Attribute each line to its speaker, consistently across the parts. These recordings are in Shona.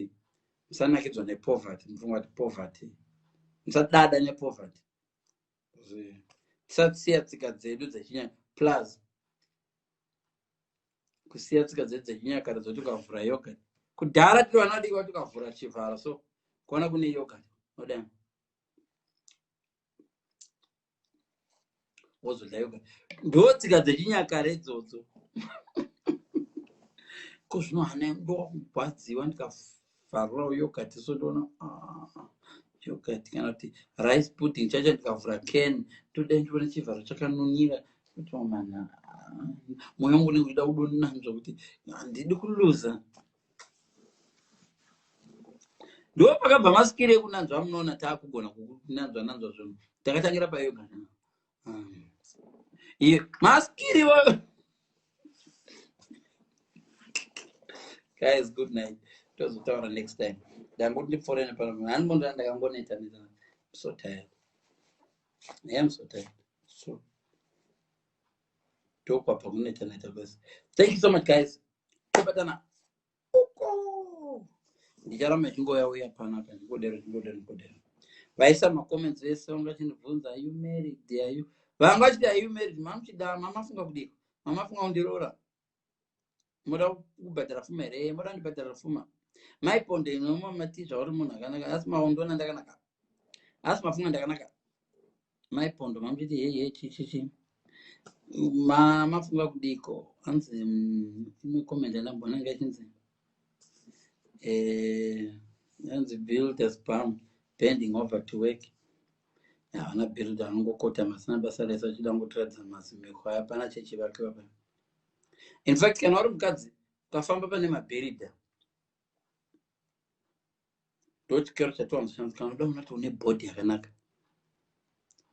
Speaker 1: poverty musanakidzwa nepoverty mufunga kuti poverty musadada nepoverty tisasiya tsika dzedu dzechinyaka plus kusiya tsika dzedu dzechinyakare dzoti ukavhura yoga kudhara tiri vana vadiki vati ukavhura chivhara so kuona kune yoga odai wozodya yoga ndotsika dzechinyakare idzodzo ko zvino hana ndokugwadziwa ndikavharura yogurt so ndoona ah, yogurt kana kuti rice pudding chacho ndikavhura can toda ndiona chivharo chakanunira kuti mamana ah, mwoyo wangu unenge uchida kudonanzva kuti handidi kuluza ndopakabva masikire ekunanzva amunoona taakugona kunanzva nanzva zvinhu takatangira payoga hmm. iye masikiri wayo guys good night tozotaura next time ndangoti ndipforene pano handimbondaa ndakangoneta neta so tired i am so tired so ndokwabva kuneta neta basi thank you so much guys tobatana uko ndicharamba ndichingoya uya pano apa ndingodero ndingodero ndingodero vaisa macomments vese vanga vachindibvunza are you married are you vanga vachiti are you married mamuchida mamafunga kudiko mamafunga kundiroora moda kubhadhara fuma here eh, moda ndibhadhara fuma maiponde inomamati zvauri munhu akanaka asi maondona ndakanaka asi mafunga ndakanaka mai pondo mamuchiti hei hei chichichi ma mafunga kudiko hanzi mm, imwe comment yandamboona nga ichinzi eh, hanzi builders bam bending over to work havana build anongokota masina basa rese achida ngotiradza mazimekwa hapana chechivake vapa in fact kana uri mukadzi ukafamba pane maberida ndochikero chatiwanzoshandisa kana unoda munoti une bhodhi yakanaka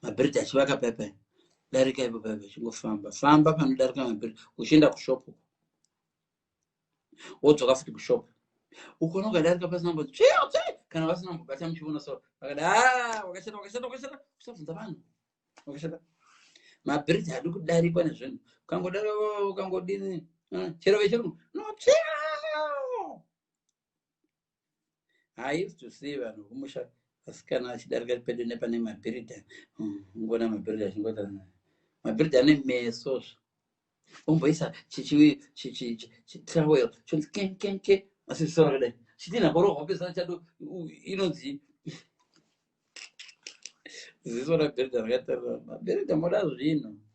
Speaker 1: mabhiridhi achivaka pai pai darika ipo pai vachingofamba famba panodarika mabhiridhi uchienda kushopu wodzoka futi kushopu ukona ukadarika pasinambo kana vasinambobata muchiona so vakada ah, wakashata wakashata wakashata usabvunza vanhu wakashata mabhiridhi haadi kudarikwa nezvinhu ukangodaro ukangodini ah, chero vechirungu no I used to see vanhu kumusha vasikana vachidarika pedo nepane mabhiridha hmm, ngona mabhiridha zvingota mabhiridha ane meso zvo omboisa chichitrowel chonzi kenkenke asi zvisoro kudai chitinha korohwa pesana chado inonzi ziso rabhiridha rakatarira mabhiridha moda zvinhu